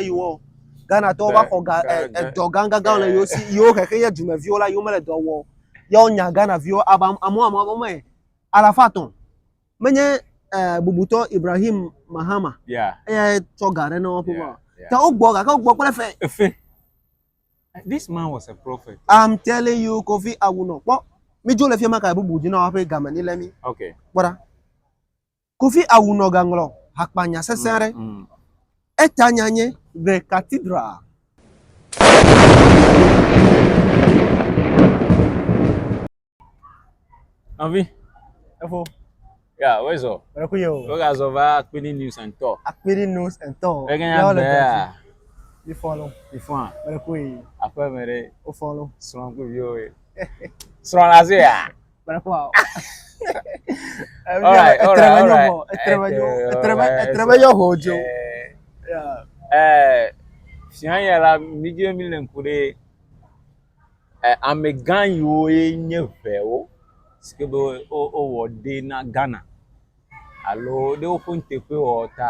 yewo o. Ghanatɔwo va xɔ ga, e, edɔ gãgãgã le yewo si, yewo xexe ye dumeviwo la, yewo mele dɔ wɔ. Ya wonya Ghanaviwo, ava amewo amewo amewo me alafa atɔ̃. Menye eh, bubutɔ Ibrahim Mahama Yeah, eyae tsɔ ga ɖe na woƒe yeah, ma. yeah. Ta wogbɔ gake wogbɔ kple fe. Efe. This man was a prophet. I'm telling you Kofi Awunɔ. Kpɔ, mídzo le fiema ka bubu dzi na woƒe game ni le mí. Okay. Kpɔ ɖa. Kofi awu nɔ gaŋlɔ hakpanya sesẽ aɖe. Eta nya nye The Cathedral. Nɔvi. Efo. Ya, wo zɔ. Wo ku yo. Wo ga zɔ va Akpini News and Tour. Akpini News and Tour. Ege nya be ya. Mi fɔ lo. Mi fɔ a. Wo ku yi. Aƒe me re. Wo fɔ lo. Srɔn ku viwo ye. Srɔn la ze ya. Sian ya la mi je mi le ŋku ɖe amegã yiwo ye nye ŋewo si ke be wowɔ ɖɛ na Ghana alo ɖe woƒe nuteƒewɔwɔ ta.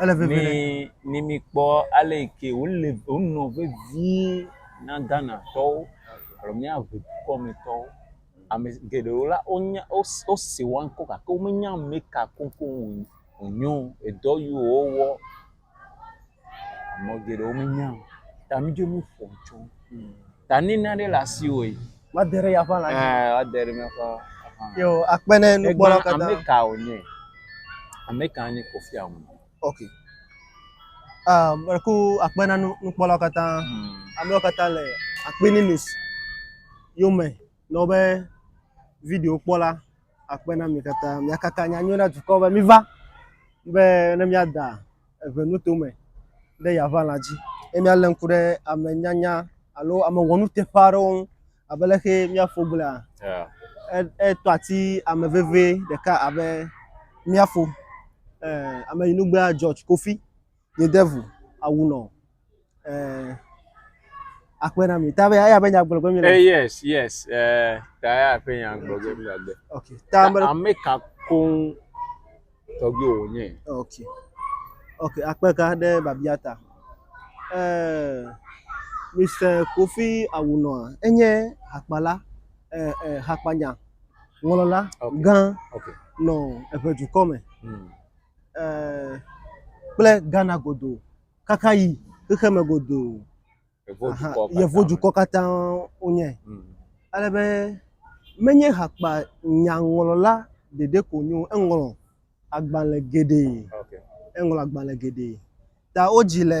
Ele veve ɖe. Mi mi mi kpɔ ale yi ke wole wonɔ vevie na Ghanatɔwo alo míaʋe dukɔmetɔwo. Ame geɖewo la wonya wos wose woa ŋkɔ gake womenya ame ka koŋkoŋ wo wonye o. Edɔ yi wowɔ ame geɖewo menya o. Ta mídzo míƒo tso ta ne nane le asiwò yi. Woade ɖe yeaƒe alã dzi. Ɛɛ, woade ɖe míaƒe alã dzi. Yo, akpe ɖe nukpɔlawo katã. Egblẽ ame ka wònye? Ame ka nye Kofi Annan? Ok. Ah, meku akpe na nukpɔlawo katã. Hmm. Amewo katã le Akpini News yome nɔ be video kpɔla. akpe na mi katã. Miakaka nyanyui na dukɔ be miva be ne miada eve nuto me ɖe Yaʋa lã dzi ye mialé ŋku ɖe ame nyanya alo ame wɔnuteƒe aɖewo ŋu abe leke mía fo gblɔea. Etɔ ati ame veve ɖeka abe mía fo, ame yi nu gbea George Kofi. Ye devu awu nɔ eh, akpe na mi. Ta be aya be nya gblɔ gbe mi le. Eh, yes, yes. Eh, ta aya be nya gblɔ gbe mi le. Okay. Ta be ame ka koŋ tɔgbi wo nye. Okay. Okay, akpe ka de babia ta. Eh, Mr. Kofi awu nɔ enye hakpala eh, eh, hakpanya ŋlɔla okay. gã okay. nɔ eƒe dukɔ me. Hmm. kple Ghana godoo kaka yi xexeme godoo. Yevudukɔ katã wonye. Hmm. Ale be menye hakpa nyaŋlɔla ɖeɖe ko nyo, eŋlɔ agbalẽ geɖee. Eŋlɔ agbalẽ geɖee. Ta wodzi le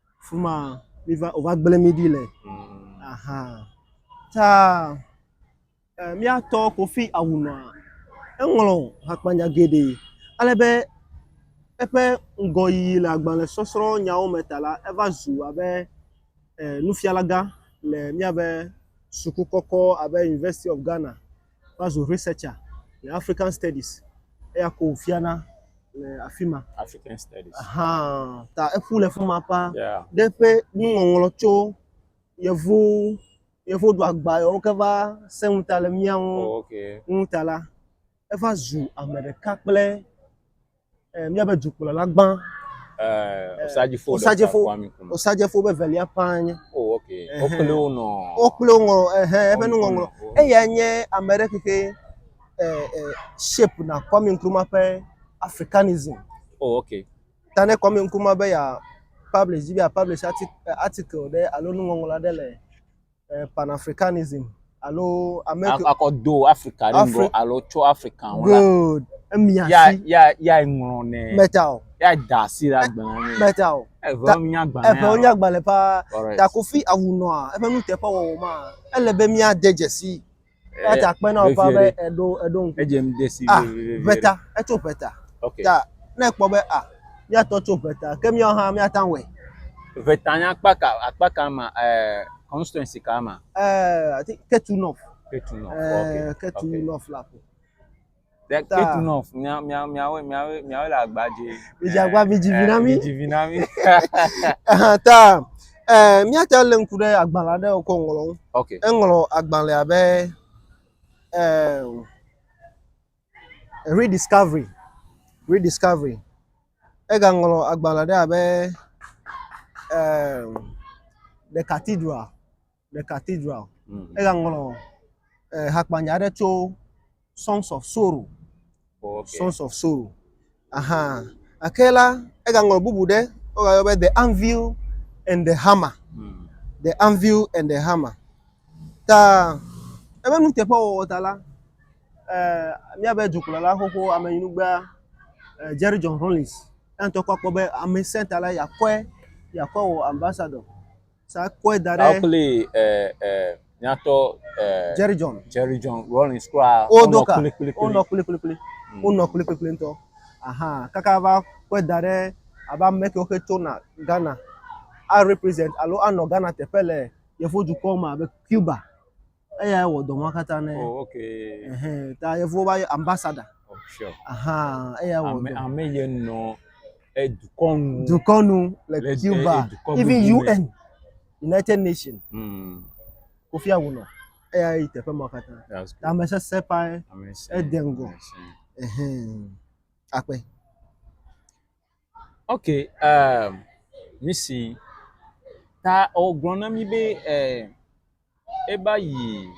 Fuma mi va o va gblẽ mi ɖi le aha ta eh, mía tɔ Kofi Awunɔa eŋlɔ hakpanya geɖe ale be eƒe ŋgɔyiyi le agbalẽ sɔsrɔ̃ nyawo me ta la eva zu abe eh, nufialagã le míabe suku kɔkɔ abe University of Ghana. va zu researcher le African Studies, eya ko wòfiana le afi ma. African Studies. Ahan, ta eƒu le fi ma ƒã. Yeah. Ɖe ƒe nuŋɔŋlɔ tso yevu yevu do agba yewo ke va sẽ ŋu ta le mía ŋu Oh, okay. ŋu ta la, eva zu ame ɖeka kple eh, míabe dukplɔla gbã eh, Osadjefo eh, Osadjefo Osadjefo be velia ƒãa nye oh ok wokple wo nɔ wokple wo ŋlɔ ehe eƒe nuŋɔŋlɔ eya nye ame ɖe keke shape na Kwame Nkrumah ƒe africanism oh ok ta ne Kwame Nkrumah be ya publish dzi be ya publish article ɖe alo nuŋɔŋlɔ aɖe le eh, Pan-Africanism alo Amerika. Akɔ do Afrika ɖe ŋgɔ alo tso Afrika ŋu la. Good. Emia si. Ya ya ya ŋlɔ nɛ. Meta o. Ya da asi ɖe agbalẽ me. Meta o. Eve wonya agbalẽ. Eve wonya agbalẽ paa. Takofi awunɔa eƒe nuteƒewɔwɔ ma ele be míade dzesi. Eya ta kpe na woƒe be eɖo eɖo ŋku. Edze ŋu de si vevie. Ʋeta, etso ʋeta. Ok. Ta ne ekpɔ be a míatɔ tso ʋeta ke míawo hã míata ŋu wɔe. Ʋeta nye akpa ka akpa ka ma ɛ constituency ka ma? Ɛ ati ketu north. Ketu north. Ɛ ketu north la ko. That That- eight enough. Mia mia miawe miawe miawe le agba dzi. Midzi agba, midzi vi na mí. Midzi vi na mí. Aha, ta eh, míate ŋu lé ŋku ɖe agbalẽ aɖe wòkɔ ŋlɔ ŋu. Okay. Eŋlɔ agbalẽa be eh, Rediscovery. Rediscovery. Egaŋlɔ agbalẽ aɖe abe eh, The Cathedral. le cathedral. Mm. Egaŋlɔ eh, hakpanya aɖe tso Songs of Sorrow. Oh, okay. Sons of Sorrow. Aha. Ake la, egaŋlɔ bubu ɖe wogayɔ be The Anvil and the Hammer. Mm. The Anvil and the Hammer. Ta ebe nuteƒewɔwɔ ta la, eh, míabe dukplɔla xoxo amenyinugbea eh, Jerry John Rollins ya ŋutɔ kpɔ akpɔ be amesẽ ta la yakɔe yakɔe wɔ ambassador. Sa kɔe da ɖe. Sa kple ɛ ɛ nyatɔ ɛ. Jerry John. Jerry John Rawlings kura. Wo do ka. Wo nɔ kpli kpli kpli. Wo nɔ kpli kpli kpli ŋutɔ. Ahan kaka va kɔe da ɖe abe ame kewo ke tso na Ghana a represent alo anɔ Ghana teƒe le yevu dukɔ me abe Cuba. Eyae wɔ dɔ ma katã ne. Oh, okay. Ehe, ta yevuwo va ambassador. Oh, sure. Aha, eyae wɔ dɔ. Ame ye nɔ edukɔnu. Dukɔnu le Cuba. Even UN, United Nations. Mm. Kofi Awunɔ. Eya yi teƒe ma katã. Ame sese pae. Ede ŋgɔ. Ehe. Akpe. Ok, um, nusi ta wogblɔ na mi be eh, eva yi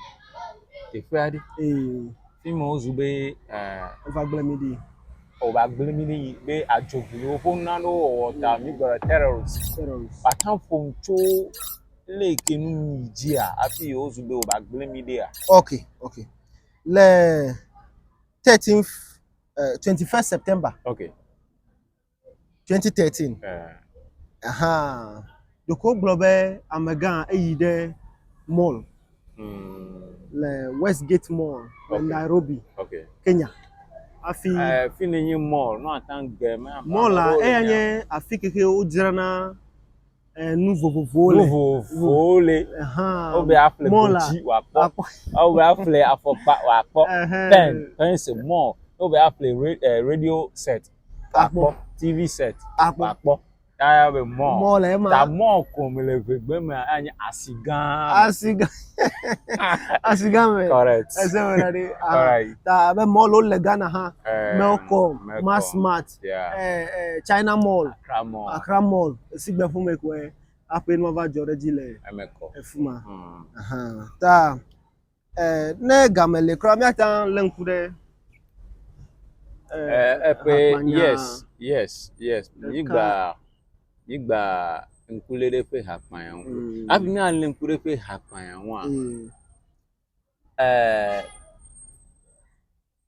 teƒe aɖe. Ee, Fi ma wozu be eh, eva gblẽ mi ɖi. wòva gblẽ mi ɖi yi be adzogbewo ƒe nu aɖewo wɔwɔ ta mi gblɔ le terrorist. Terrorist. Wòatã ƒom tso le ke nu yi dzia hafi wozu be wòva gblẽ mi ɖia. Ok, ok. Le 13th uh, 21 September. Okay. 2013. Uh. Aha. Ɖeko gblɔ be amegã eyi ɖe mall mm. le Westgate Mall le okay. Nairobi, okay. Kenya. Afi uh, fi ne nye mall, no atan gbe me. Mall la eya nye afi keke wodzrana nu vovovowo le. Nu vovovowo le. Wo be aƒle godzi wòakpɔ. Wo be aƒle afɔkpa wòakpɔ. Pɛn, pɛnsi, mɔ. Wo be aƒle radio set wòakpɔ. TV set wòakpɔ. Ta ya be mɔ. Mɔ le ema. Ta mɔ ko me le ʋegbe me anye asi gã. Asi gã. Asi gã me. Correct. Ese me na ɖe. Ta be mɔ lo le Ghana hã. Mɛlkɔm, Masmart. sia. Eh, eh, China Mall. Accra Mall. Accra Mall. Esigbe ƒome koe aƒe nua va dzɔ ɖe dzi le efima. Hmm. Ta, eh, ne game le kura, míate ŋu lé ŋku ɖe eh, eƒe eh, eh, yes yes yes mígba mígba ŋkulé ɖe ƒe hakpanya ŋu mm. hafi míalé ŋku ɖe ƒe hakpanya ŋua mm. eh,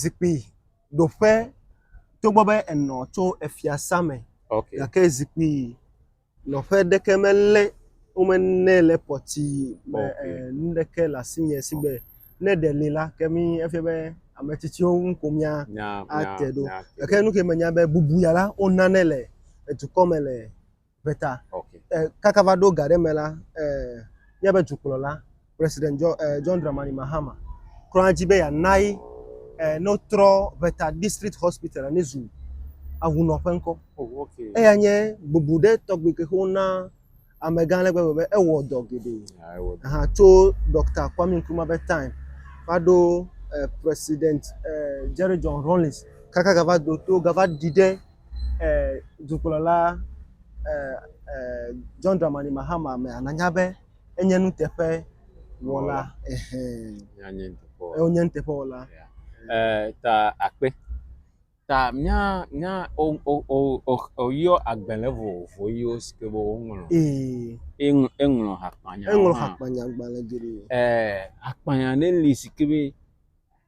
Zikpuiɖoƒe, togbɔ be enɔ tso efiasa me gake zikpui nɔƒe ɖeke melé wome nɛ le pɔti me enu ɖeke le asinye si gbe ne ɖe li la ke mi efia be ame tsitsiwo ŋu ko míate ɖo gake nu si menya be bubu ya la wonanɛ le edukɔ me le. ƒe ta. Okay. Eh, kaka va ɖo ga ɖe me la, eh, míaƒe dukplɔla, President John, eh, John Dramani Mahama, klɔa dzi be yeanae eh, ne wotrɔ ʋeta district hospital ne zu ahunɔƒe ŋkɔ. Oh, okay. Eya nye bubu ɖe tɔgbi ke wona amegã ale gbegbe be ewɔ dɔ geɖe. Ah, ewɔ dɔ. Aha, tso Dr. Kwame Nkrumah ƒe time va ɖo eh, President eh, Jerry John Rawlings kaka gava do to gava ɖi ɖe dukplɔla John Dramani Mahama me nànya be enye nuteƒe wɔla. Wonye nuteƒe wɔla. Ta akpe. Ta mía mía woyɔ agbalẽ vovovo yiwo si ke be woŋlɔ. Eŋlɔ hakpanya. Eŋlɔ hakpanya gbalẽ geɖe. Hakpanya ɖe li si ke be.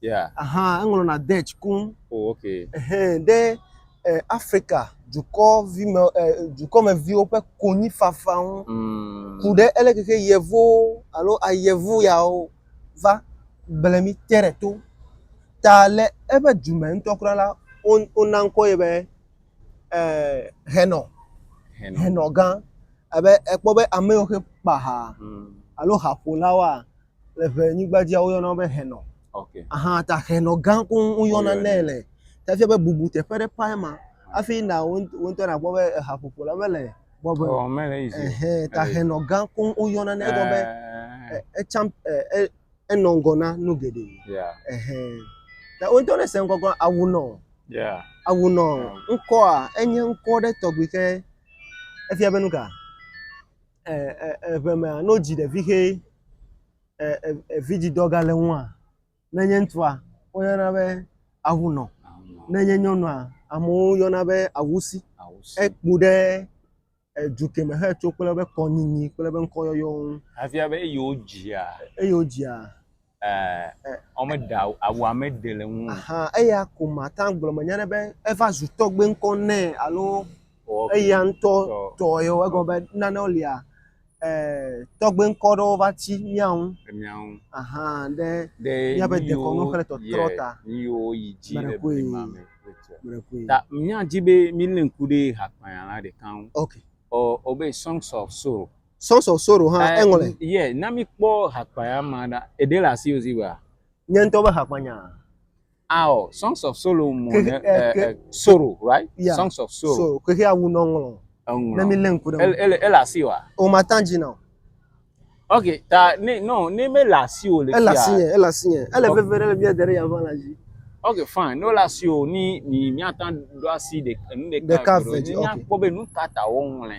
Yeah. Aha, eŋlɔna Dutch koŋ. Oh, okay. Ehɛ, ɖe eh, Afrika dukɔvime, eh, dukɔmeviwo ƒe konyifafa ŋu. Mm. Ku ɖe ele keke yevuwo alo ayevu yawo va gblẽ mí te ɖe to. Ta le eƒe du me ŋutɔ kura la, wo, wona ŋkɔ ye be eh, Hɛnɔ, Hɛnɔ. Hɛnɔ gã. Abe ekpɔ be ame yiwo xe kpa ha Mm. alo haƒolawoa, le ʋe nyigba dzia woyɔna wo be henɔ. Okay. Aha ta henɔ gã ko woyɔna nɛ le. Tafia be bubu teƒe ɖe pae ma hafi na wo ŋutɔ nakpɔ be ehaƒoƒo la mele bɔbɔe. Ɔ mele yi zi. Ehe ta henɔ gã ko woyɔna nɛ egɔme be etsam enɔ ŋgɔ na nu geɖe. Yeah. Ehe. Ta wo ŋutɔ ne se ŋgɔ gɔn awu nɔ. Yeah. Awu nɔ ŋkɔa enye ŋkɔ ɖe tɔgbi ke efia be nu ka? eŋeme ne wodzi ɖevi ʋɛ vidzidɔ gale ŋua ne nye ŋutsua woyɔna be ahunɔ ne nye nyɔnua amewo yɔna be awusi eku ɖe edu keme hetso kple eƒe kɔnyinyi kple eƒe ŋkɔyɔyɔ ŋu. Efia be eye wodzia. Eye wodzia. Ɛɛ, womeɖe awu, awua meɖe le ŋu o. Ahan, eya ko mate ŋu agblɔ menye ɖe be eva zu tɔgbe ŋkɔ nɛ alo Ok, eya ŋutɔ tɔ. tɔe o. Egɔme be nanewo lia, ɛɛ, tɔgbe ŋkɔ ɖewo va tsi mía ŋu. Ɖe mía ŋu. Ahan, ɖe Ɖe míabe nu dekɔnu yiwo, kple tɔtrɔ yɛ, ta. nu yiwo yi dzi le Meɖekui. blema me kple tsia. Meɖekui. Ta míadi be mílé ŋku ɖe hakpayalã ɖeka ŋu. Ok. Ɔ, ɔ be Songs of Sorrow. Sons of Sorrow hã eh, eŋlɔe. Ye, na mi kpɔ hakpaya ma ɖa. Eɖe le asi ozi ba. Nye ŋutɔ be hakpanya. Aɔ, ah, Songs of Sorrow mo ne eh, eh, Sorrow, right? Yeah. Songs of Sorrow. So, kehe awu no ŋlɔ. Ŋlɔ. Ne mi le ŋku ɖe. Ele ele asi wa. O ma tan dzi na. Ok, ta ne no ne me le asi o le kia. Ele asi nye, ele asi nye. Ele veve ɖe le mi de ɖe ya va la dzi. Ok fine, no la si o ni mi miata do asi de nu ɖeka. Ɖeka vɛ dzi ok. Ni nya kpɔ be nu ka ta wo ŋlɛ.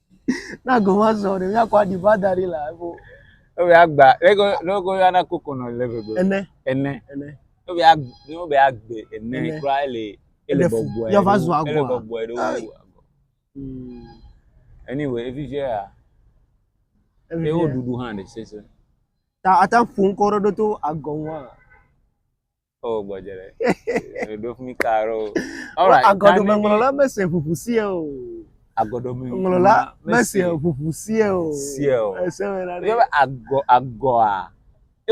Na go ma zɔ ɖe mía kɔ aɖi ba da ɖi la ebo. Ebe agba lego lego ya na koko nɔ le gbegbe. Ene. Ene. Ene. Ebe ag no be agbe ene kura ele ele bɔbɔe. Ya va zɔ agba. Ele bɔbɔe ɖo. Hmm. Anyway, evi je ya. Evi je. Ewo dudu hã de sese. Ta ata ƒun kɔ ɖo to agɔnwa. Oh, gbɔdze ɖe. Ɖo fi mi ka ɖo. Alright. Agɔdome ŋlɔla mese ʋuʋu sie o. Agɔdome ŋlɔla mese ʋuʋu sie o. Sie o. Ese me na ɖe. Yɔbe agɔ agɔa.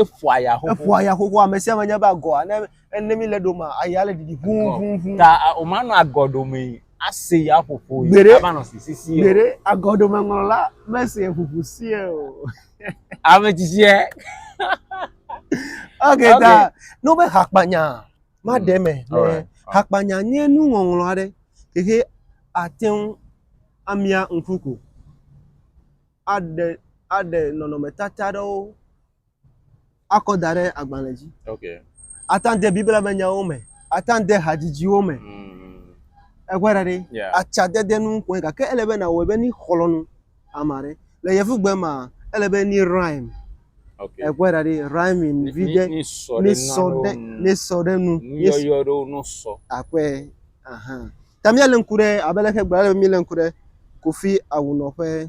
Efɔa ya xoxo. Efɔa ya xoxo ame sia ame nya be agɔa ne ne mi le ɖo ma aya le ɖiɖi ʋu ʋu ʋu. Ta o ma nɔ agɔdome. Asee ya ƒoƒo yi. Gbeɖe. Ava nɔ sisi si o. Gbeɖe agɔɖomeŋlɔla mesee ƒoƒo sie o. Ame tsitsie. Ok ta ne wobe hakpanya maɖe eme. Mm, alright, alright. Hakpanya nye nuŋɔŋlɔ aɖe yi ke ate ŋu amia ŋku ko. Aɖe aɖe nɔnɔmetata aɖewo akɔ da ɖe agbalẽ dzi. Okay. Ate ŋu de Biblia me nyawo me, ate ŋu de hadzidziwo me. Mm. Ekpɔe ɖa ɖi. Yeah. Atsadede nu kɔe gake ele be nawɔe be ni xlɔ̃ nu ame aɖe. Le yevugbe mea, ele be ni rhyme. Okay. Ekpɔe ɖa ɖi rhyming vi ɖe Ni sɔ ni ɖe sɔ nanewo ɖe nu. ni sɔ ɖe nu. Ni s- Nuyɔyɔ ɖewo no sɔ. akɔe. Ahan. Ta míalé ŋku ɖe abe leke gblɔ ale be mílé ŋku ɖe Kofi Awunɔ ƒe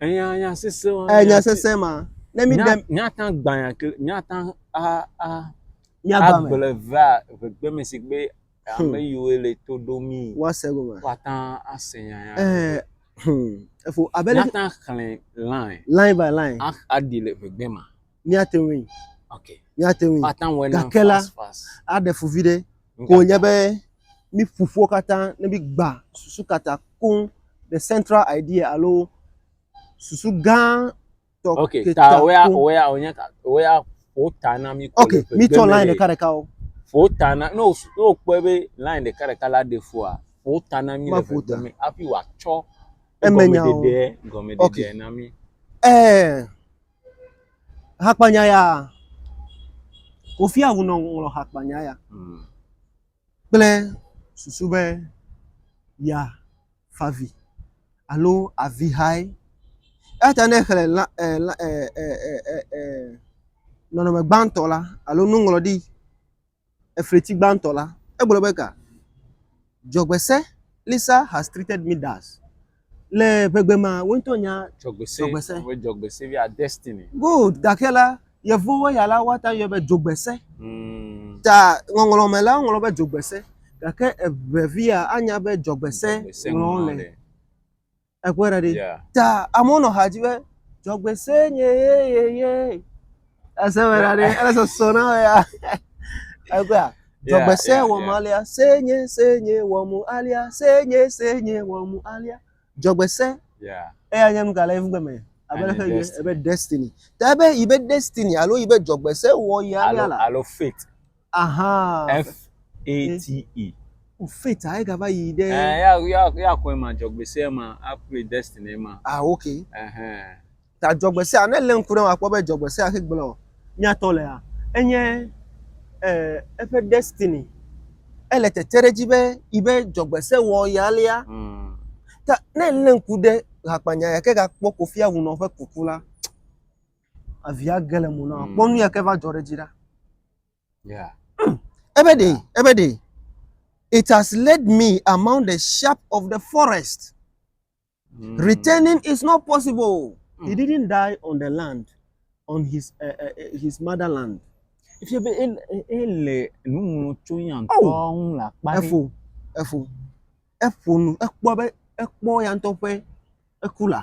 Enya nya sese ma. Eh, nya sese ma. Ne mi dem. Nya ta gbanya ke nya ta a a. Nya ba me. Agble va vegbe me si gbe hmm. ame yiwo le to do mi. Wa se go ma. Wa ta ase nya ya. Eh. Hmm. Efo abele. Nya ta xlẽ line. Line by line. A a di le vegbe ma. míate ŋui. Ok. Míate ŋui. But now we're Gake la, fast, fast. aɖe fu vi ɖe. Ko nye be mi ƒoƒuwo katã ne mi gba susu katã koŋ the central idea alo susu gã tɔ Ok, ke ta ta wea koŋ. wea wònye ka wea ƒo ta na mi ko Ok, le ƒe mi gbe tɔ me line ɖe. ɖeka ɖeka o. Ƒo ta na ne wos- ne wokpɔe be line ɖeka ɖeka la ɖe fua ƒo ta na mi le Maƒo ƒe ta. gbe me hafi wòatsɔ Emenyawo. gɔmeɖeɖe gɔmeɖeɖe Ok. na mi. Ɛɛ, Hakpanya ya. Kofi Awu nɔ ŋlɔ hakpanya ya hmm. kple susu be ya favi alo avi hae. Eyata ne xlẽ la eh, la eh, eh, eh, eh, eh, nɔnɔme gbãtɔ la alo nuŋlɔɖi efleti gbãtɔ la, egblɔ be ga, Dzɔgbese, Lisa has treated me thus. Le ʋegbe mea, wò ŋutɔ nya Dzɔgbese. Dzɔgbese. Be dzɔgbese via destiny. Good, gake la, Yevuwo ya la, woate ŋu ayɔe be dzogbese. Mm. Ta ŋɔŋlɔ me la, woŋlɔ be dzogbese, gake eʋevia anya be dzɔgbese Dzɔgbese ŋlɔm ŋlɔ le. le. Ekpɔe ɖa ɖi. Yeah. Ta amewo nɔ ha dzi be dzɔgbese nye yeyeye. Ese me ɖa ɖi. Ele sɔsɔ na wò ya. Ekpɔe a. Dzɔgbese yeah, wɔm yeah. alia. Se nye se nye wɔm alia. Se nye se nye wɔm alia. Dzɔgbese. Yeah. Eya nye nu ka le evugbe me? Abe Enye ɖe ƒe destiny. ebe destiny. Ta ebe yi be destiny alo yi be dzɔgbese wɔ yi alia Alo la. alo fate. Ahaa. F-A-T-E. O fate a egava yi ɖe. Ɛɛ ya ya ya xɔe ma dzɔgbese ma akpli destiny ma. Ah ok. Ɛhɛn. Ta dzɔgbesea ne lé ŋku ɖe akpɔ be dzɔgbesea xe gblɔ o. Míatɔ lea enye ɛɛ eƒe destiny ele tete ɖe edzi be yi be dzɔgbese wɔ ye alea. Ta ne lé ŋku ɖe hakpanya ya ke gakpɔ Kofi Awunɔ ƒe kuku la avia ge le mo na wa. Mm. Kpɔ nu ya ke va dzɔ ɖe dzi ɖa. Yeah. Ebe ɖe, ebe ɖe. It has led me among the sharp of the forest. Mm. Returning is not possible. Mm. He didn't die on the land, on his uh, uh, his motherland. Efie be ele ele nu ŋlɔ tso ya ŋutɔ Oh. ŋu le akpa ɖe. Efo, efo, efo nu, ekpɔ be ekpɔ ya ŋutɔ ƒe eku la.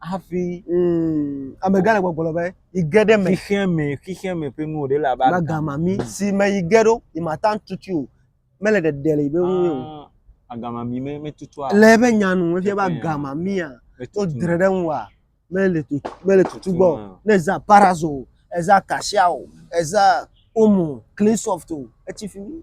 hafi. Mm, amegã le gbɔgblɔ be yi ge ɖe me. Xixia me, xixia me ƒe nuwo ɖe le abe agama mi mm. si me yi ge ɖo yi ma tan tutu o. Mele ɖeɖe le yi be ŋu o. Ah, agama mi me metutua. Le ebe nya nu efia be agama mia to dre ɖe ŋu wa mele tutu mele tutu gbɔ. Ne za parazo o, eza kasia o, eza omo, clean soft o, etsi fi mi.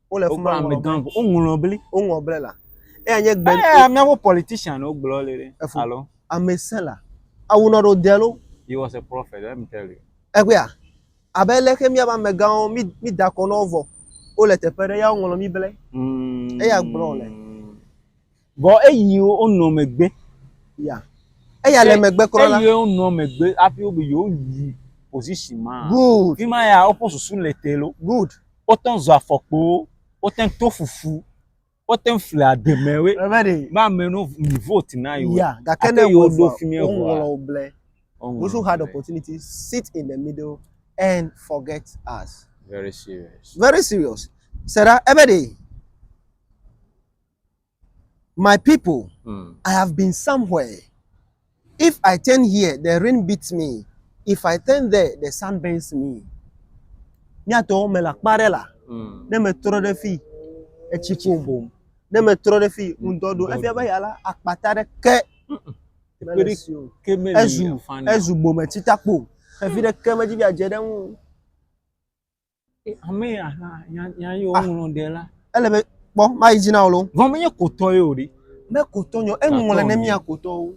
Wole fi ma ŋlɔ bli. Woŋlɔ bli. Woŋlɔ bli la. Eya nye gbe. Eya míaƒe politician wo gblɔ le ɖe. Efo. Alo. Ame se la. Awu nɔ ɖo de lo. He was a prophet. Let me tell you. Egbea. Abe ele ke míaƒe amegãwo mi mi da kɔ nɔ wo vɔ. Wole teƒe ɖe ya woŋlɔ mi ble. Eya gblɔ le. Vɔ eyi wo nɔ megbe. Ya. Eya le megbe kura la. Eyi wo nɔ megbe afi wo be yewo yi position ma. Good. Fi ma ya woƒe susu le te lo. Good. Wo tɛn zɔ afɔkpowo, wo tɛn to fufu, wo tɛn fle ademe we. Ready. Be ame no mi vote na yewo. Ya. Gake ne wo do fi mi eŋu. Wo ŋlɔ wo ble. Those who had opportunity sit in the middle and forget us. Very serious. Very serious. Sera ebe de. My people, mm. I have been somewhere. If I turn here, the rain beats me. If I turn there, the sun burns me. Miatɔ mele akpa aɖe la. Mm. Ne metrɔ ɖe fi, etsi ƒo bom. Ne metrɔ ɖe fi, mm. ŋdɔ ɖo. Efia be ya la, akpata ɖe ke. Ezu ezu bometi takpo. Xevi ɖe ke medzi bia dze ɖe ŋu. Ame ya hã nya nya yewo ah. ŋlɔ ɖe la. Ele be kpɔ mayi dzi na wo lo. Vɔ menye kotɔ ye o ɖi. Me kotɔ nyɔ eŋlɔ ne mia kotɔwo.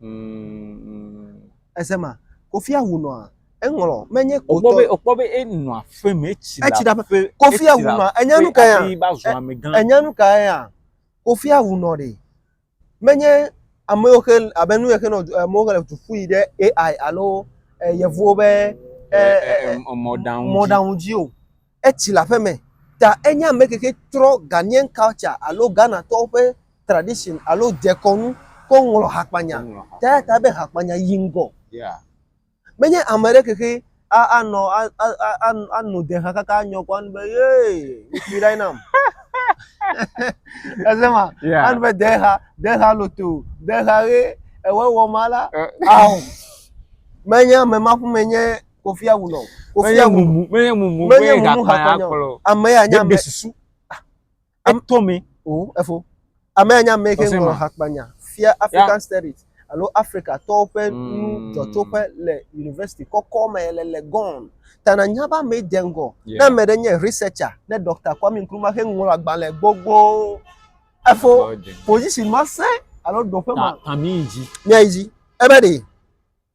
Mm. Ese ma kofi awu nɔa eŋlɔ menye kotɔ. Okpɔ be okpɔ be enɔ aƒe me etsi la. Etsi la ƒe kofi awu nɔa enyanu ka ya. Enyanu ka ya. Kofi awu nɔ de. Menye amewo xe abe nu xe nɔ amewo xe le tufu yi ɖe AI alo yevuwo be mɔɖaŋu dzi o. Etsi le aƒe me ta enye ame ke xe trɔ Ghanaian culture alo Ghanatɔwo ƒe tradition alo dekɔnu kɔ ŋlɔ hakpanya ta eya ta be hakpanya yi ŋgɔ. Menye ame ɖe xexi a anɔ a a a ano de ha kaka anyɔ kɔ anu be yee ŋutsu ɖae nam. Ese ma? Yeah. Anu be de ha de ha loto de ha ɣe ewɔ wɔ ma la. Eh. Aho. Menye ame ma ƒu menye kofi awu nɔ. Kofi awu. Menye mumu menye mumu menye mumu ha kɔnyɔ. Ame ya nya ame. Susu. Etɔ mi. O, efo. Amea nya ame ke ŋlɔ hakpanya fia African Studies alo Afrika tɔwo ƒe hmm. nu dzɔtsoƒe le university kɔkɔ me le le gɔn. Ta na nya ba me de ŋgɔ. Na me de nye researcher ne Dr. Kwame Nkrumah ke ŋlɔ agbalẽ gbogbo. Efo position ma se alo do pe ma. Ta mi ji. Nya ji. Ebe de.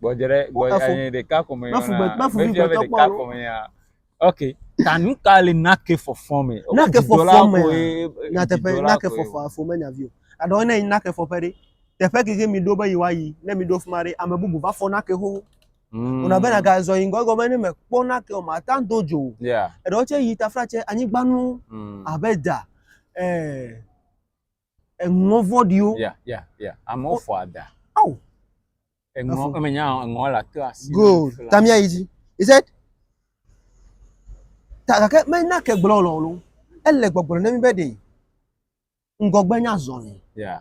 Gbɔdzre gbɔdzre eh, ɖeka ko me yɔna. Mefi be ɖeka ko me ya. Ok. Ta nu ka le nake fɔfɔ me? Nake fɔfɔ me. Nyateƒe nake fɔfɔ afɔ me nyavi o. Aɖɔ ne nake fɔfɔ ɖe. Teƒe keke mi ɖo be yi wa yi. Ne mi ɖo fuma ɖe ame bubu va fɔ nake xoxo. Mm. Ona bena ga zɔ yingɔ gɔme ne me kpɔ nake o ma ta do dzo. Eɖewo tse yi tafra tse anyigbanu mm. abe da. Eh, Eŋɔ vɔɖiwo. Yeah, yeah, yeah. Amewo oh. fɔ ada. Oh. Eŋɔ, emenya eŋɔ la to asi. Good. Tamia yi dzi. He said, ta gake mena ke gblɔ lɔlɔ. Ele gbɔgblɔ ne mi be ɖe ŋgɔgbe nya zɔ ne. Yeah.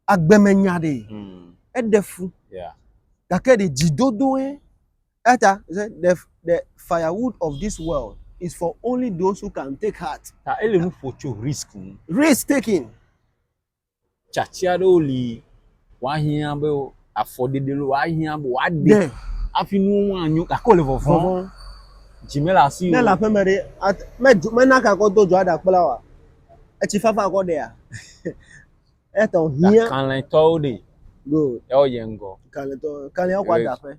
Agbeme nya ɖe. Mm. Eɖe fu. Yeah. Gake ɖe dzidodoe. Eya ta, he said, the, the firewood of this world is for only those who can take heart. Ta ele nu ƒo tso risk ŋu. Risk taking. Tsatsi aɖewo li woahiã be afɔɖeɖe lo woahiã be woaɖe Ɖe. hafi nuwo ŋu anyo gake wole vɔvɔm. Vɔvɔm. Dzi mele asi Ne le o. aƒeme ɖe, at- medzo- mena ka kɔ do dzo aɖakpla oa? Etsi fafa kɔ ɖea? Eya ta wòhiã. Kalẽtɔwo ɖe Good. yawo yie ŋgɔ. Kalẽtɔ, kalẽa kɔ Yes. adaƒe.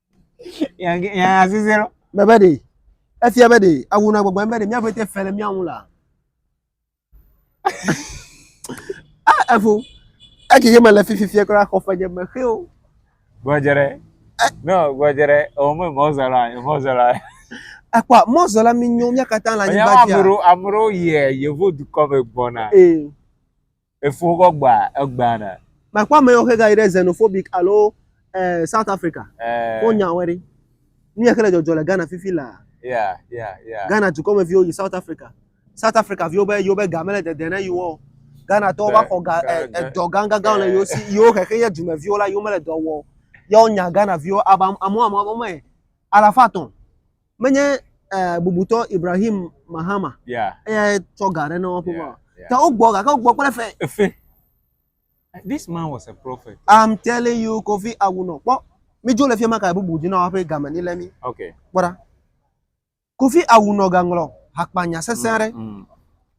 Yage- yaya zizi ɖo. Mɛ be ɖe efia be ɖe awu na gbɔgbɔ be ɖe mía ƒete fe le mía ŋu la. Ah, evo. Eki ye mele fi fifia kura xɔ ƒe nye me xe o. Gbɔdze ɖe. No, gbɔdze ɖe. O me mɔzɔla, e mɔzɔla. Ekpɔ mɔzɔla mi nyo mía katã le Enya anyigba amu dzi. ɖewo amu ɖewo yie yevu dukɔ me gbɔna. Ee. Efo kɔ gba egba na. Ma kpɔ ame yɔ xe gayi ɖe xenophobic alo eh, South Africa. Eh. Ko nya wɛ ɖi. Nu yɛ xe le jɔjɔ le Ghana fifi la. Ya, ya, ya. Ghana dukɔ me viwo yi South Africa. South Africa viwo be yiwo be ga mele dede ne yiwo o. Ghana tɔwo va xɔ ga eh, edɔ gangangan le yiwo si. Yiwo xexe yɛ dume viwo la yiwo mele dɔ wɔ o. Yɛ wo nya Ghana viwo aba amu amu amu me alafa tɔn. menye eh, bubutɔ Ibrahim Mahama Yeah, eyae tsɔ ga ɖe na woƒe yeah, yeah. yeah. Ta wogbɔ gake wogbɔ kple fe. Efe. This man was a prophet. I'm telling you Kofi Awunɔ kpɔ midzo le fiema ka bubu dzi na woƒe game ni le mi Okay. kpɔ ɖa. Kofi Awunɔ gaŋlɔ hakpanya sesẽ aɖe. Mm,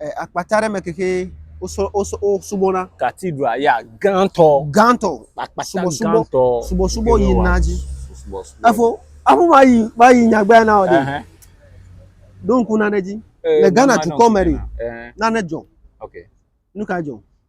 eh, akpata aɖe me keke wosubɔna cathedral ya gãtɔ gãtɔ subɔsubɔ subɔsubɔ yina dzi efo aƒu ma yi ma yi nyagbea na o de ɖo ŋku nane dzi eh, le ghana dukɔ me de nane dzɔ nu ka dzɔ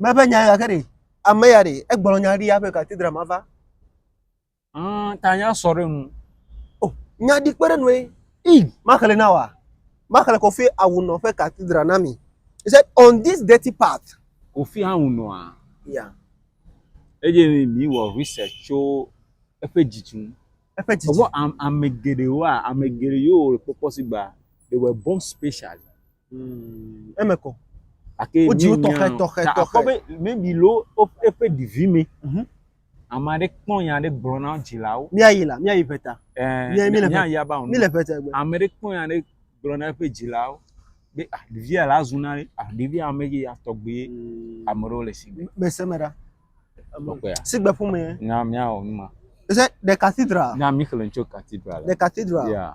Meƒe nya gake ɖe ame ya ɖe egblɔ nya ɖi aƒe katedra ma va. Mm, ta nya sɔ ɖe nu. O, oh, nya ɖi kpe ɖe nue. I, maxle na wa. Maxle kɔfe awunɔ ƒe katedra na mi. He said, on this dirty path. Kofi awunɔa. Ya. Eye mi wɔ research tso eƒe dzidzi ŋu. Eƒe dzidzi. Ewɔ ame geɖewoa, ame geɖe yewo kpɔkpɔ si gba, they were born special. eme kɔ. Gake wodzi wo tɔxɛ tɔxɛ tɔxɛ. Akpɔ be maybe lo eƒe ɖevi me. Mhm. Ame aɖe kpɔ nya aɖe gblɔ na dzilawo. Míayi la, míayi ʋeta. Ɛɛ míayi aba ŋu. Míle ʋeta gbe. Ame aɖe kpɔ nya aɖe gblɔ na eƒe dzilawo be ah ɖevia la zu na ɖe ah ɖevia ame ke ya tɔgbe mm. ame aɖewo le sigbe. Mese me ɖa. Sigbe ƒomea. Na míawɔ nu ma. Is it the cathedral? Na mi xlẽ tso cathedral. The cathedral. Yeah.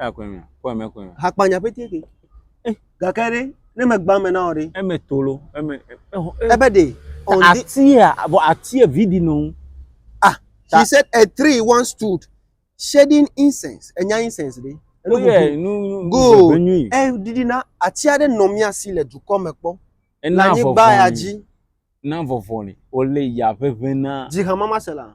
Eya koe mea, kpɔ eme koe mea. Hakpanya ƒe tie ke. Eh, gake ɖe, ne megbã me na wò ɖe. Eme tolo, eme. Ebe ɖe. Atia, vɔ atia vi di nɔ ŋu. Ah, she said a tree once stood shedding incense. Enya incense ɖe. Enu bubu. Nu, nu, nu, go. Eh, didi na atia ɖe nɔ mía si le dukɔ me kpɔ. Ena vɔvɔ. Anyigba ya dzi. Na vɔvɔ ne, ole ya ʋeʋẽ na. Dzi hamama se la.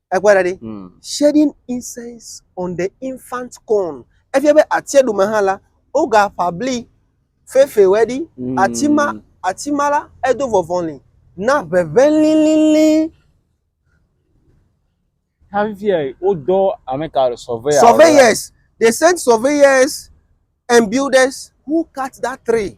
Ekpɔe ɖa ɖi. Mm. Shedding incense on the infant corn. Efia be atia ɖu me hã la, wogaƒã bli fɛfɛwɔe ɖi. Mm. Ati ma, ati ma la, edo vɔvɔli na ʋeʋẽ lilili. Hafi fia wodɔ ameka surveyor. Surveyors. They sent surveyors and builders who cut that tree.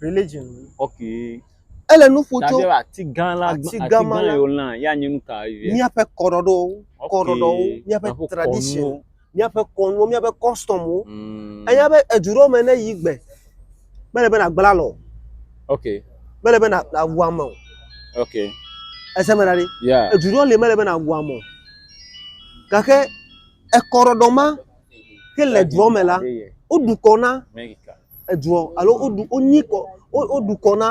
Religion. Okay. Ele nu ƒo tso. Daɖe ati gã la ati gã ma la. Yolã ya nye nu ka ye. Míaƒe kɔɖɔɖɔwo. Kɔɖɔɖɔwo. Míaƒe tradition. Míaƒe kɔnuwo. Míaƒe customwo. Mm. Enya be edu ɖewo me ne yi gbe. Mele be na gbla lɔ. Okay. Mele be na na wu ame o. Okay. Ese me na ɖi. Yeah. Edu ɖewo le mele be na wu ame o. Gake ekɔɖɔɖɔ ma. ke le dua me la, woɖu kɔ na edua alo woɖu wonyi kɔ woɖu kɔ na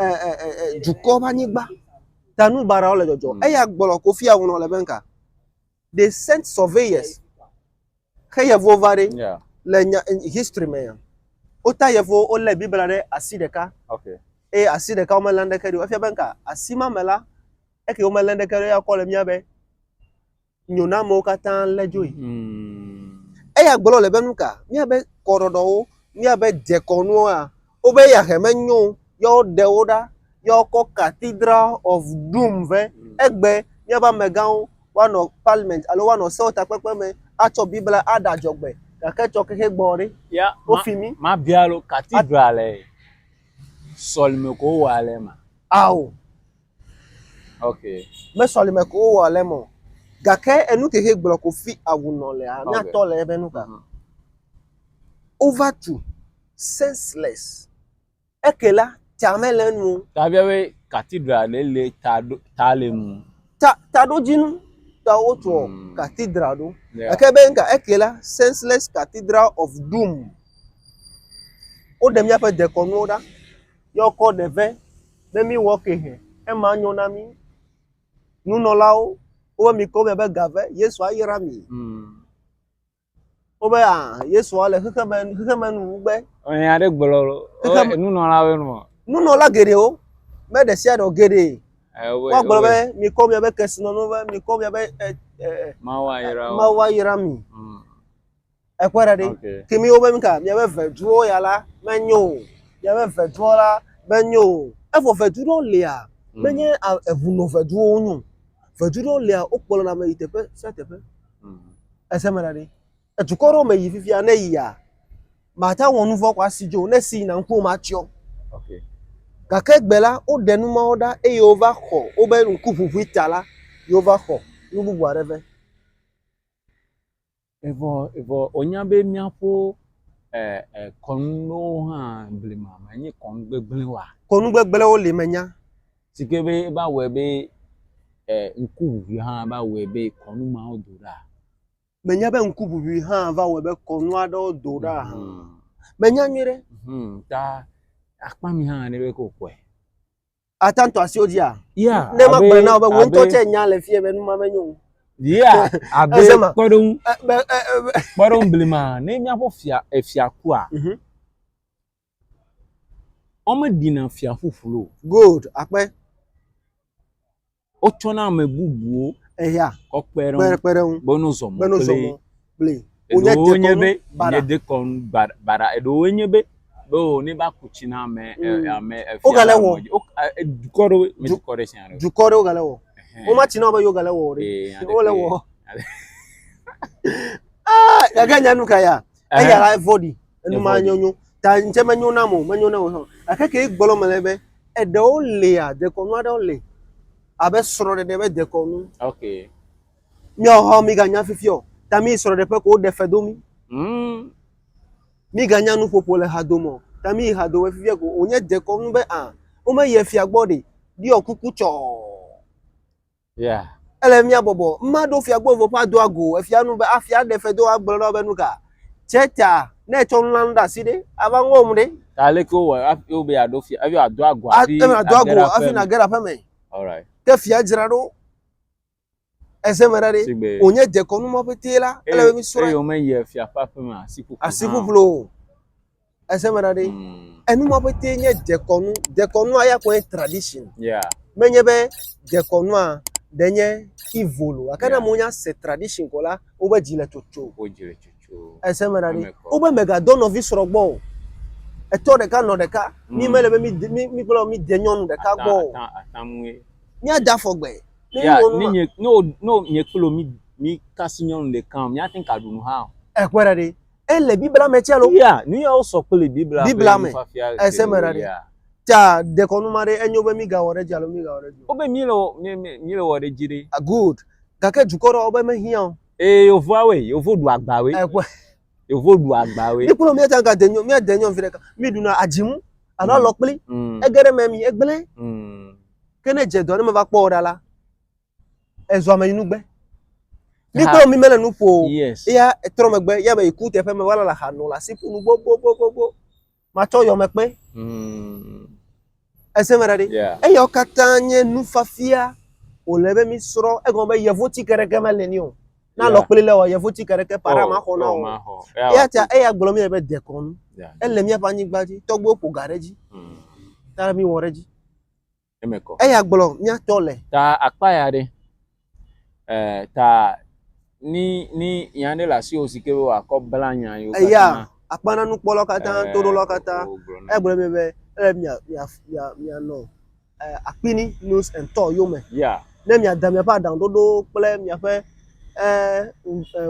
e, e, e, e, dukɔ ƒe anyigba ta nu baɖawo le dzɔdzɔ hmm. eya gblɔ kofi awunɔ le be nka they sent surveyors xe yevuwo va ɖi le nya history me ya wota yevuwo wolé bibla ɖe asi ɖeka eye asi ɖeka womelé ɖeke ɖi efia be nka asi ma me la eke womelé ɖeke ɖe ya kɔ le mía be nyo na amewo katã lé dzoe. Eya gblɔ le be nu ka? Míabe kɔɖɔɖɔwo, míabe dekɔnuwoa, wobe yahɛ menyo o, ye woɖe wo ɖa, ye wokɔ Cathedral of Doom vɛ. Egbe míaƒe amegãwo woanɔ parliament alo woanɔ sewɔtakpekpe me atsɔ Biblia aɖe adzɔgbe gake tsɔ xexe gbɔ ɖe, wofi mí. Mabia lo, Cathedral le sɔlime ko wowɔa le ema? Ao. Ok. Me sɔlime ko wowɔ le mɔ. Gake enu kexe gblɔ ko fi awu nɔ lea, Ok. míatɔ le ebe nu ka. Mhm. Over to senseless. Eke la, ta mele enu o. Tabia be cathedral ɖe le ta ɖo ta le nu. Ta taɖodzinu ta wotsɔ Mm. cathedral ɖo. Yeah. Gake be nuka eke la, senseless cathedral of doom. Woɖe míaƒe dekɔnuwo ɖa. yɔkɔ ɖe ve be miwɔ ke hɛ ema nyo na mi. Nunɔlawo wobe mikɔ mia be ga ve Yesu ayra mi. Hmm. Wobe a ah, Yesu le xexeme xexeme nu gbe. Ɔyɛ aɖe gblɔ xexeme nunɔlawo nu. Nunɔla geɖewo be ɖe sia ɖe geɖe. Woagblɔ be mikɔ mia be kesinɔnu ve mikɔ mia be eh, eh, eh, Mawu ayra mi. Hmm. Ekpɔe ɖa ɖi. Ke mi wobe nuka miabe veduwo ya la menyo o. Miabe veduwo la menyo o. Evɔ vedu ɖewo lia, menye eŋu nɔ veduwo wonyo o. Vedu ɖewo lia wokplɔna ame yi teƒe sia teƒe. Ese me ɖa ɖi. Edukɔ ɖewo me yi fifia ne eyia, mate ŋu awɔ nu vɔ̃ kɔ asi dzi o. Ne esi yina ŋkuwò matsyɔ. Gake egbe la, woɖe nu mawo ɖa eye wova xɔ wobe ŋkuʋuʋui ta la, yewova xɔ nu bubu aɖe vɛ. Evɔ, evɔ wònya be míaƒo ɛ, ɛ, kɔnuwo hã blema menye kɔnu gbegblẽ oa? Kɔnu gbegblẽwo li menya. Si ke be eva wɔe be ɛ, ŋkuʋuʋui hã va wɔe be kɔnu mawo do ɖa. Menya be ŋkuʋuʋui hã va wɔe be kɔnu aɖewo do ɖa hã. Menya nyuie ɖe. Hum, ta akpa mi hã ne be ko kɔe. Ata ŋutɔ asiwo dzia? Yeah, Ne magblɔ abe- na wò be wò ŋutɔ abe- tsɛ nya le fie be nu ma menyo o. Yeah, abe Eze ma. kpɔɖeŋu Eh, be- eh, eh, be- kpɔɖeŋu blima ne míaƒe fia efia kua Mhm. womeɖina fia ƒuƒlu o Good, akpe. wotsɔ na ame bubuwo eya kɔ kpe ɖe ŋu kpe ɖe ŋu be no zɔ mɔ be no zɔ mɔ kple eɖewo nye be nye dekɔnu baɖa baɖa eɖewo nye be be o ne va ku tsi na ame mm. ame efia wogale wɔ dukɔ ɖewo me dukɔ ɖe sia ɖe dukɔ ɖewo gale wɔ wo ma tsi na be yo gale wɔ ɖe wole wɔ ah gake nyanu ka ya eya la evɔɖi enu ma nyɔ nyo ta ŋtsɛ menyo nam o menyo nam o hã gake ke gbɔlɔ me le be eɖewo lia dekɔnu aɖewo le abe srɔ̃ɖeɖe be dekɔnu okay míawo hã miganya fifi o ta mi srɔ̃ɖeƒe ko woɖe fe do mi mm. miganya nuƒoƒo le hadome o ta mi yi hadome fifia ko wònye dekɔnu be a womeyi efia gbɔ ɖi ɖiɔ kuku tsɔɔ Yeah. Ele mía bɔbɔ. Mma ɖo fia gbɔnvɔ ƒe adoa go efia nu be afia ɖe fe do agblɔ na be nu ka. Tse ta ne etsɔ nu la nu ɖe asi ɖe ava ŋɔm ɖe. Ta le ke wɔ afi wo be aɖo fia afi adoa go afi. Ate adoa go afi na gera ƒe me. Alright. Ke fia dzra ɖo. Eze me ɖa ɖe. Sigbe. O nye dekɔnu ma ƒe te la. Ele be mi srɔe. Eyo me yɛ fia ƒe aƒe me asi ƒuƒlu. Asi ƒuƒlu. Ese me na ɖe. Mm. Enu ma ƒete nye dekɔnu. Dekɔnua ya kɔe tradition. Yeah. Menye be dekɔnua ɖe nye evil o. Gake ne amewo nya se tradition ko la, wobe dzi le tsotso. Wo dzi le tsotso. Ese me na ɖe. Wobe megadɔ nɔvi srɔ̃ gbɔ o. Etɔ ɖeka nɔ ɖeka. Mm. Mi mele be mi de mi mi kple mi de nyɔnu ɖeka gbɔ o. Ata ata mue. Mi ada fɔ gbe. Yeah, ni nye no no nye kplo mi mi kasi nyɔnu ɖeka o. Mi ate ka ɖunu hã o. Ekpɔ ɖa ɖe. Ele Biblia me tsɛ lo. Ya, nu yawo sɔ kple Biblia Biblia ƒe me. nufiafia Ese me ɖa geɖewo ɖe. ya. Ta dekɔnu ma ɖe enyo be migawɔ ɖe edzi alo migawɔ ɖe edzi o. Wobe míle wɔ- mí- mí- míle wɔ ɖe edzi ɖe. Ah, Good. Gake dukɔ ɖewo be mehiã o. Eye yevua woe, yevo ɖu agba woe, Ekpɔe. yevo ɖu agba woe. Míekpɔnɔ míate ŋu gade nyɔ- míade nyɔ viɖe ka. Míɖuna adzimu alo Mm. alɔkpli. Mm, Ege ɖe eme mi, egblẽ. mm. Ke ne edze dɔ ne meva kpɔ wò ɖa la, Ezɔ ame yinu gbe. Mi kple mi mele nu ƒo. Yes. Ya etrɔ megbe ya me yi ku teƒe me wala la xa nɔ la si ƒunu gbogbogbogbo. Matsɔ yɔ me kpe. Mm. Ese me ɖaɖi. Yeah. Eyawo katã nye nufafia wòle be mi srɔ̃ egɔme be yevu ti keɖeke mele ni o. Na Yeah. lɔ kpli le o yevu ti keɖeke paɖa ma xɔ na Oh, o. ma xɔ. Eya Eya ta eya gblɔ mi be dekɔnu. Yeah. Ele míaƒe anyigba dzi tɔgbuiwo ƒo ga ɖe edzi Mm. ta mi wɔ ɖe edzi. eme kɔ. Eya gblɔ míatɔ le. Ta akpa ya ɖe. E, ta ni ni yan ɖe le asiwo si ke be wòakɔ bla nya yewo katã. Eya akpa na nukpɔlawo katã, e, toɖolawo katã. Egblɔ mi be ele mia mia mia mianɔ e, akpini news and tɔ yome. Yeah. Ne miada miaƒe aɖaŋuɖoɖowo kple miaƒe e, e,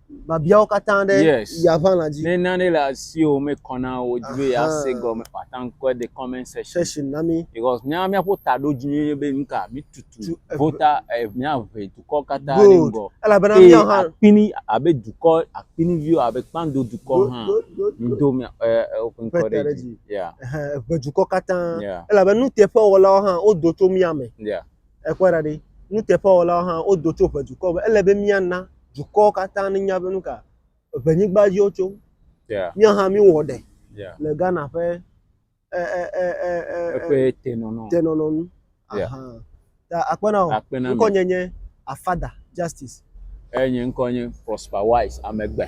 biabiawo katã ɖe yes. ya ʋãla dzi. Ne nane le asiwò mekɔ na wò dzi be yease gɔme o, ate ŋu kɔe de comment section. Section na mi. Because mía míaƒo taɖodzi nye be nu ka mitutu vota eh, míaʋe dukɔ katã ɖe Good. ŋgɔ. Elabena Eye míawo hã akpini abe dukɔ akpiniviwo abe kpando dukɔ do hã do do do do mía eh, eh, woƒe ŋkɔ ƒete ɖe ɖe dzi. dzi. Yeah, ɛhɛ, eʋe dukɔ katã. Yeah. Elabena nuteƒewɔlawo hã wodo tso mía me. yeah. Èkpɔe ɖa ɖe, nuteƒewɔlawo hã wodo tso ʋe dukɔwo be ele be míana dukɔwo katã nenya be nu ka ʋe nyigba dzi wotso. Yeah. Míawo hã míwɔ ɖe yeah. le Ghana ƒe eƒe tenɔnɔ tenɔnɔ nu. Yeah. Ta akpena o. Akpena. Ŋkɔ nye nye Afada Justice. Eh, nye ŋkɔ nye Prosper Wise Amegbe.